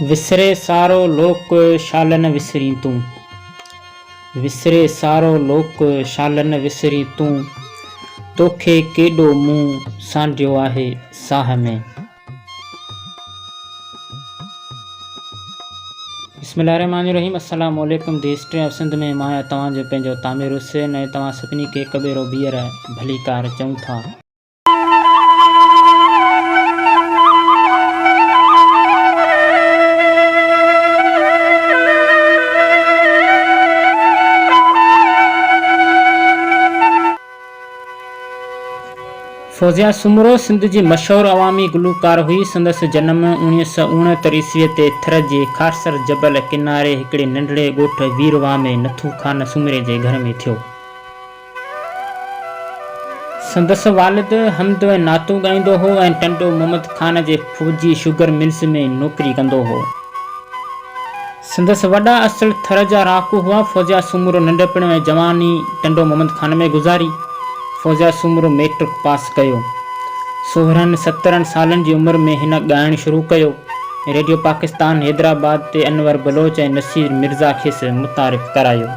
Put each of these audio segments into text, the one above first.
وسري سارو لوڪ شال نه وسرين تون. وسري سارو لوڪ شال نه وسرين تون. توکي ڪيڏو مون سانڍيو آهي ساهه ۾. بسم الله الرحمٰن الرحيم السلام عليڪم دي هسٽري آف سنڌ ۾ مان آهيان توهان جو پنهنجو تامر حسين ۽ توهان سڀني کي هڪ ڀيرو ٻيهر ڀليڪار چئون ٿا. فوزيه سومرو سنڌ جي مشهور عوامي گلوڪار هئي. سندس جنم اوڻيهه سؤ اڻهتر عيسويء تي ٿر جي خارسر جبل ڪناري هڪڙي ننڍڙي ڳوٺ ويرواهه ۾ نٿو خان سومري جي گهر ۾ ٿيو. سندس والد حمد ۽ نعتون ڳائيندو هو ۽ ٽنڊو محمد خان جي فوجي شگر ملز ۾ نوڪري ڪندو هو. سندس وڏا اصل ٿر جا رهاڪو هئا. فوزيا سومرو ننڍپڻ ۽ جواني ٽنڊو محمد خان ۾ گذاري. فوزيا سومرو ميٽرڪ پاس ڪيو. سورهن سترهن سالن جي عمر ۾ هن ڳائڻ شروع ڪيو. ريڊيو پاڪستان حيدرآباد تي انور بلوچ ۽ نصير مرزا کيس متعارف ڪرايو.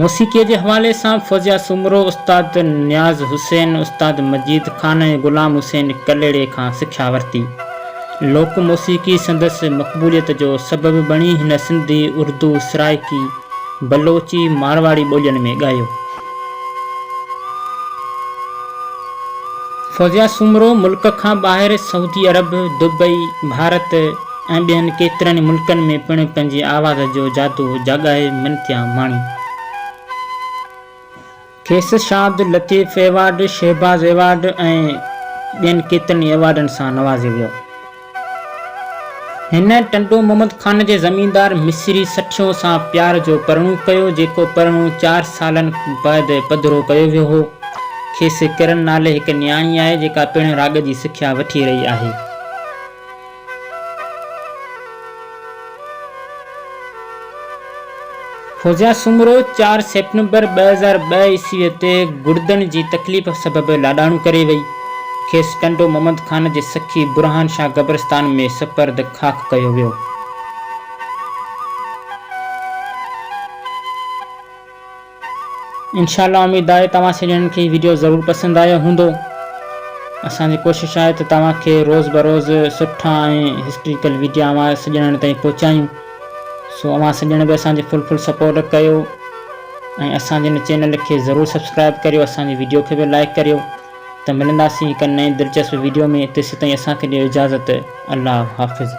موسيقيء جي حوالي سان فوزيا سومرو استاد نياز حسين، استاد مجيد خان ۽ غلام حسين ڪلهڙي کان سکيا ورتي. لوڪ موسيقي سندس مقبوليت جو سبب بڻي هن سنڌي، اردو، سرائڪي، بلوچي، مارواڙي ٻولين ۾ ڳايو. فوزيا سومرو ملڪ کان ٻاهر سعودي عرب، دبئي، ڀارت، ۽ ٻين ڪيترن ئي ملڪن ۾ پڻ پنهنجي آواز جو جادو جاڳائي منٿيا ماڻي. کيس شاد لطيف ايوارڊ، شهباز ايوارڊ ۽ ٻين ڪيترن ئي ايوارڊن سان نوازيو ويو. هن ٽنڊو محمد خان جي زميندار مصري سٺيون سان پيار جو پرڻو ڪيو، جيڪو پرڻو چار سالن بعد پڌرو ڪيو ويو هو. کيس ڪرن نالي هڪ نياڻي آهي، جيڪا پڻ راڳ جي سکيا وٺي رهي آهي. فوزيا سومرو چار سيپٽمبر ٻه هزار ٻه عيسوي تي گڙدن جي تڪليف سبب لاڏاڻو ڪري وئي. کيس ٽنڊو محمد خان جي سخي برهان شاهه قبرستان ۾ سپرد خاڪ ڪيو ويو. انشاء الله اميد آهي توهان سڄڻن کي هي ويڊيو ضرور پسند آيو هوندو اسان جي ڪوشش آهي ته توهان کي روز بروز سٺا ۽ هسٽريڪل ويڊيا اوهان سڄڻن تائين پهچايون سو اوهان سڄڻ به اسان جي فل فل سپورٽ ڪيو ۽ اسان جي هن چينل کي ضرور سبسڪرائب ڪريو اسان جي ويڊيو کي به لائڪ ڪريو ته ملنداسين هڪ نئين دلچسپ ويڊيو ۾ تيسيتائين اسان کي ڏيو اجازت الله حافظ.